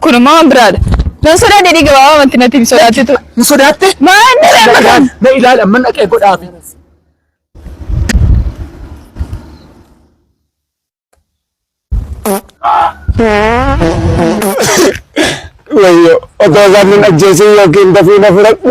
Kun immoo waan biraadha. Nan sodaadhe jedhii gabaabaa wanti natti hin sodaachitu. Hin sodaatte? Maan na reemma kan? Na ilaali amma dhaqee godhaafi. Wayyo otoo isaan nun ajjeesee yookiin dafii na fudhadhu.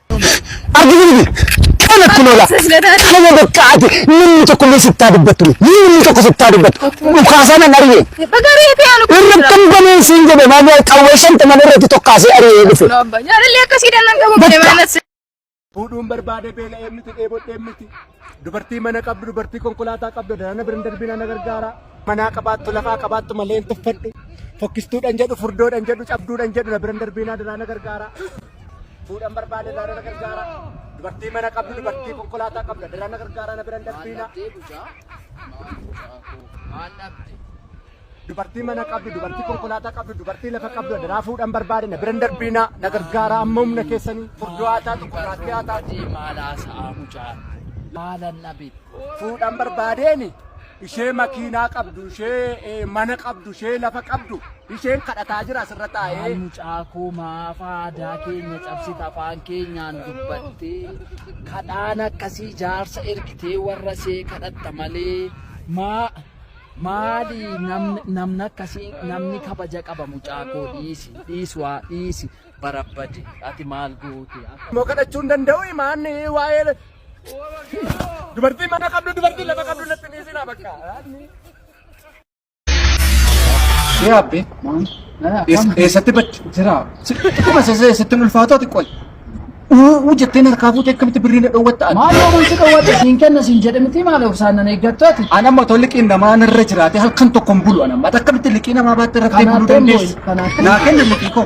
Arginu miti. Kana kun ola. Kana bakka ati namni tokko illee sittaa dubbattu miti. Namni tokko sittaa dubbattu. Dhukaasaa nan argee. Bagaree ta'e anu Irra kan baneen siin jedhe malee qawwee shantaman irratti tokkaasee ari'ee dhufe. Abba jaalallee akkasii dannan qabu Bakka. malee maanas. Fuudhuun barbaade beela'ee miti dheebodhee miti. Dubartii mana qabdu dubartii konkolaataa qabdu daraana biran darbina na gargaara. Manaa qabaattu lafaa qabaattu malee hin tuffadhu. Fokkistuudhaan jedhu furdoodhaan jedhu cabduudhaan jedhu na biran darbina daraana gargaara. Fuudhan barbaade daara na gargaara. Dubartii mana qabdu dubartii konkolaataa qabda daara na gargaara na biran darbiina. Dubartii mana qabdu dubartii konkolaataa qabdu dubartii lafa qabdu daara fuudhan barbaade na biran darbiina na gargaara amma humna keessanii furdoo haa taatu gurraattii haa taatu. Fuudhan barbaadeeni ishee makiinaa qabdu, ishee eh, mana qabdu, ishee lafa qabdu, isheen kadhataa jira asirra Maal taa'ee. mucaa koo maaf aadaa keenya cabsita afaan keenyaan dubbattee kadhaan akkasii jaarsa ergitee warra see kadhatta malee maa maali namni namni akkasii namni kabaja qaba mucaa koo dhiisi dhiisi waa dhiisi barabbadi ati maal goote Immoo kadhachuu hin danda'u himaan waa'ee Dubartii mana qabdu dubartii lafa qabdu natti ni isin bakka. Shee abbe. Eessatti badde? Jira. Kuma sasee eessatti hin ulfaatu ati qoy. Uuu jettee narkaa fuutee akkamitti birrii na dhoowwatta ati? Maal yoo bulti dhoowwatte siin kenna siin jedhe miti maal obsaan nan eeggattu ati? An amma otoo liqiin namaa narra jiraate halkan tokko hin bulu an amma. Ati akkamitti liqii namaa baatte irratti Kanaaf buluu dandeessu? Kanaaf. Naa kenna liqii koo.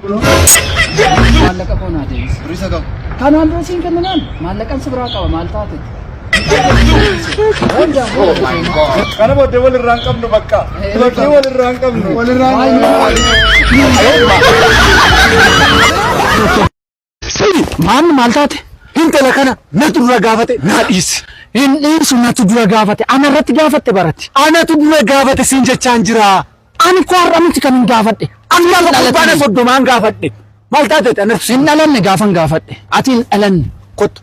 Kunoo maallaqa koo naa deebisi. Birrii isa qabu. Kanaan dura siin kenninaan maallaqan si biraa qaba maal taate? Kana booddee wal irraa hin qabnu bakka. Bakki wal irraa hin qabnu. Wal irraa hin qabnu. Sidi maamni maal taate? Hintala kana natu dura gaafate naa dhiisi. Hin dhiisu natu dura gaafate ana irratti gaafatte barati. Anatu dura gaafate siin jechaan jira. Ani koo har'a miti kanin gaafadhe. Ani Ati hin lafa dhalatin. kurbaana soddomaan gaafadhe. Maal taate ati anatu Hin dhalanne gaafan gaafadhe. Ati hin dhalanne. Kottu.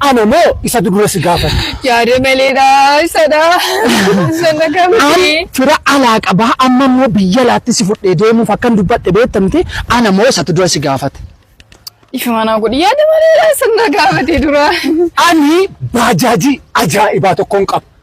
Ana moo isa dudura si gaafate? Yaada malee dhaa isa dhaa. Isa na An gaafate. fira alaa qabaa amma immoo biyya laatti si fudhee deemuuf akkan dubbadhe beektamti ana moo isatu dura si gaafate? Ifa manaa godhi yaada malee dhaa isa na gaafate dura. Ani baajaajii ajaa'ibaa tokkoon qaba.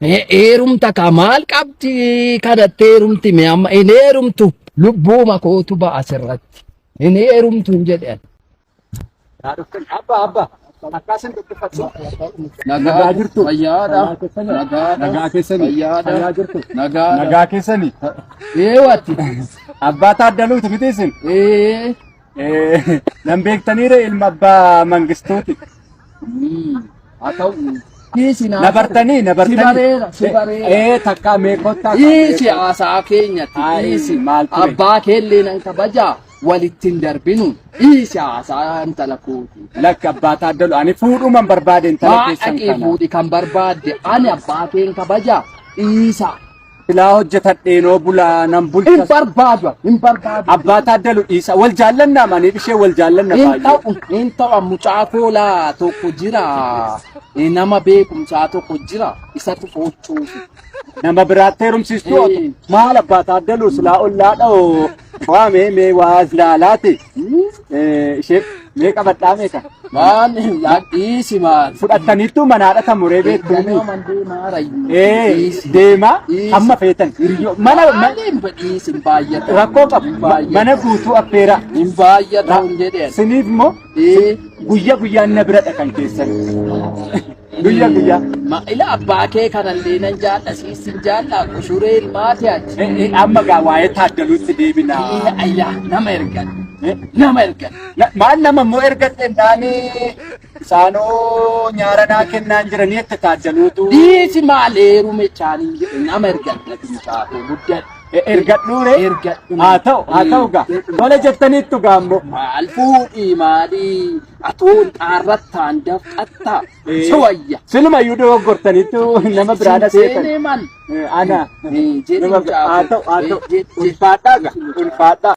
Heerumta kaa maal qabdi kadhattee heerumti mee amma hin heerumtu lubbuuma kootu ba'a asirratti hin heerumtu hin jedhan. Abba abba akkaasin dubbifatu. Nagaa jirtu. Fayyaadha. Nagaa keessani. Fayyaadha. Fayyaa jirtu. Nagaa. Nagaa keessani. Eewatti. Abbaa taaddaluutu miti isin. Ee. Nan beektaniire ilma abbaa mangistuuti. Haa ta'u. Dhiisi naa. Na bartanii na bartanii. Si bareera si bareera. Ee takkaa meeqottaa. Dhiisi haasaa keenyatti Haa, dhiisi. maal ture? Abbaa keellee nan kabaja walitti hin darbinu. Dhiisi haasaa intala kooti. Lakki abbaa taaddalu ani fuudhuman barbaade intala Haa keessan dhaqii kana. fuudhi kan barbaadde ani abbaa keen kabaja dhiisa. Silaa hojjetadheenoo bulaa nan Hin bulcha. barbaadu, hin barbaadu. Abbaa taaddalu dhiisa. Wal jaallannaa maaniif ishee wal jaallanna Hin baay'ee. ta'u, hin ta'u mucaa koolaa tokko jira. Eh, Nama beekumsaa tokko jira. Isatu gochuufi. Nama biraatti heerumsiistuu Eh. maal abbaa taaddaluu silaa ollaadha oo. Waa mee mee waa as laalaati. Ishee mee qabadhaa meeqa? Maan dhiisi maan. Fudhattaniittu manaadha kan muree beektu. Ganoo man deemaa rayyu. Ee Dhiisi. deemaa Dhiisi. hamma feetan hiriyyoo mana ma- Maaliin badhiisi hin baay'atu. rakkoo qabu Hin baay'atu. mana guutuu affeeraa. Hin baay'atu hin jedheen. Siniif immoo Ee. guyyaa guyyaan na biradha kan keessan. Guyya guyya. Ma ila abbaa kee kanallee nan jaalla siis sin jaalla qushuree ilmaati ati. Eh, eh, Amma gaa waa'ee taaddaluutti Ee, deebina. Ayyaa nama ergan Eh, nama ergan. na- Maal nama immoo ergatte taane isaanoo nyaara naa kennaan jiranii itti taaddaluutu. Dhiisi maal heerume chaaniin jedhe nama ergan mucaafoo guddadha. Eh, Ergadhuure. Ergadhu. Haa ta'u haa ta'u gaa. Tola jettaniittu gaa immoo. Maal fuudhii maalii Atuu xaarrattaan dafqattaa si wayya. Siluma iyyuu dogoggortaniitu nama biraa na seetan. Seenee man. Ana. Nama biraa. Haa ta'u haa ta'u. Ulfaadhaa gaa. Ulfaadhaa.